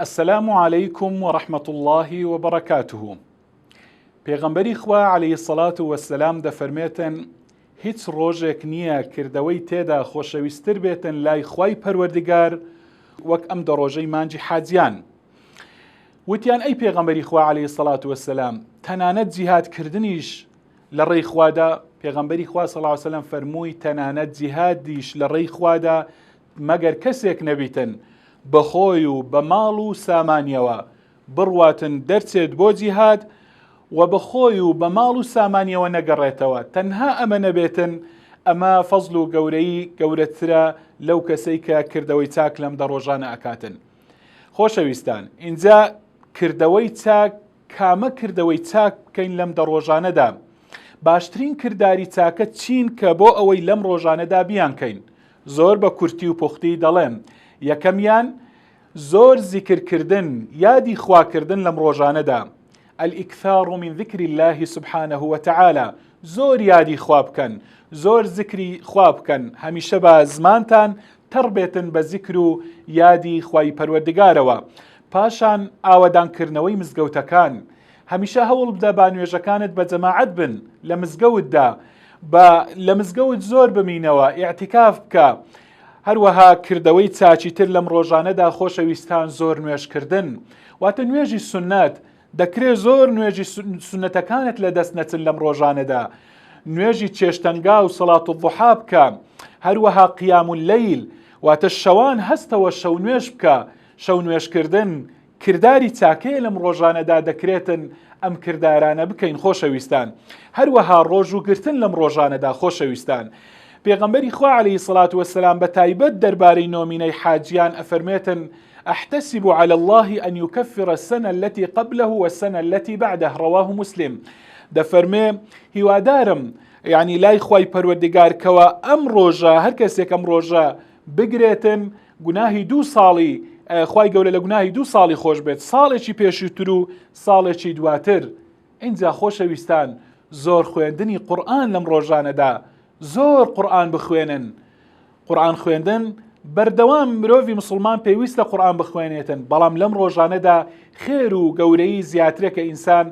السلام علیکم و رحمە اللە و بەڕەکاته پێغەمبەری خوا علیە الصلوة و السلام دەفەرمێتن هیچ ڕۆژێک نییە کردەوەی تێدا خۆشەویستر بێتن لای خوای پەروەردگار وەک ئەم دەڕۆژەی مانجی حاجیان وتیان ئەی پێغەمبەری خوا علیە الصلوة و السلام تەنانەت جیهاد کردنیش لە ڕێی خوادا پێغەمبەری خوا صلی الله علیه وسلم فەرمووی تەنانەت جیهادیش لە ڕێی خوادا مەگەر کەسێک نەبیتن بە خۆی و بە ماڵ و سامانیەوە بڕواتن دەرچێت بۆ جیهاد و بە خۆی و بە ماڵ و سامانیەوە نەگەڕێتەوە تەنها ئەمە نەبێتن ئەمە فەزل و گەورەی گەورەترە لەو کەسەی کە کردەوەی چاک لەم دە ڕۆژانە ئەکاتن خۆشەویستان اینجا کردەوەی چاک کامە کردەوەی چاک بکەین لەم دە ڕۆژانەدا باشترین کردداری چاکە چین کە بۆ ئەوەی لەم ڕۆژانەدا بیانکەین زۆر بە کورتی و پوختی دەڵێم، یەکەمیان، زۆر زیکر کردن، یادی خوا کردن لەم ڕۆژانەدا، الاکثار من ذکر اللە سبحانە وتعالی، زۆر یادی خوا بکەن، زۆر زیکری خوا بکەن، هەمیشە با زمانتان تەڕ بێتن بە زیکر و یادی خوای پەروەردگارەوە، پاشان ئاوەدان کردنەوەی مزگەوتەکان، هەمیشە هەوڵبدە با نوێژەکانت بە جەماعەت بن لە مزگەوتدا بە لە مزگەوت زۆر بمینەوە ئیعتیکاف بکە هەروەها کردەوەی چاچی تر لەم ڕۆژانەدا خۆشەویستان زۆر نوێژکردن واتە نوێژی سنت دەکرێ زۆر نوێژی سنتەکانت لە دەست نەچن لەم ڕۆژانەدا نوێژی چێشتەنگا و سەڵات و بحا بکە هەروەها قیام و لەیل واتە شەوان هەستەوە شەو نوێش بکە شەو نوێشکردن کرداری چاکەیە لەم ڕۆژانەدا دەکرێتن ئەم کردارانە بکەین خۆشەویستان هەروەها ڕۆژ و گرتن لەم ڕۆژانەدا خۆشەویستان پێغەمبەری خوا عليه سڵات وسلام بە تایبەت دەربارەی نۆمینەی حاجیان ئەفەرمێتن أحتسب على الله أن يكفر السنة التي قبله والسنة التي بعده رواه مسلم دەفەرمێ هیوادارم یعنی لای خی پەروەردگار کەوە ئەم ڕۆژە هەر کەسێک ئەم ڕۆژە بگرێتن گوناهی دوو ساڵی خوای گەورە لە گوناهی دوو ساڵی خۆش بێت ساڵێکی پێشووتر و ساڵێکی دواتر ئینجا خۆشەویستان زۆر خوێندنی قورآن لەم ڕۆژانەدا زۆر قورآن بخوێنن قورآن خوێندن بەردەوام مرۆڤی مسلمان پێویستە قورآن بخوێنێتن بەڵام لەم ڕۆژانەدا خێر و گەورەی زیاترە کە ئینسان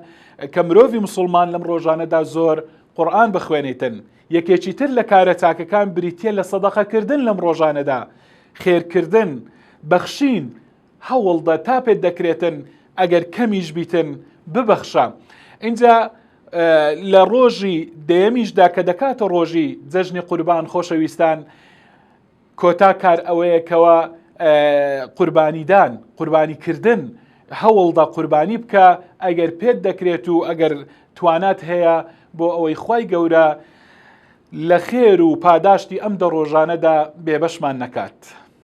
کە مرۆڤی مسلمان لەم ڕۆژانەدا زۆر قورآن بخوێنێتن یەکێکی تر لە کارە چاکەکان بریتییە لە سەدەقەکردن لەم ڕۆژانەدا، خێرکردن، بەخشین، هەوڵدە تا پێت دەکرێتن ئەگەر کەمیش بیتن ببەخشە. ئینجا لە ڕۆژی دەیەمیشدا کە دەکاتە ڕۆژی جەژنی قوربان خۆشەویستان، کۆتا کار ئەوەیە کەوا قوربانیدان، قوربانیکردن هەوڵدە قوربانی بکە ئەگەر پێت دەکرێت و ئەگەر توانات هەیە بۆ ئەوەی خوای گەورە لە خێر و پاداشتی ئەم دە ڕۆژانەدا بێبەشمان نەکات.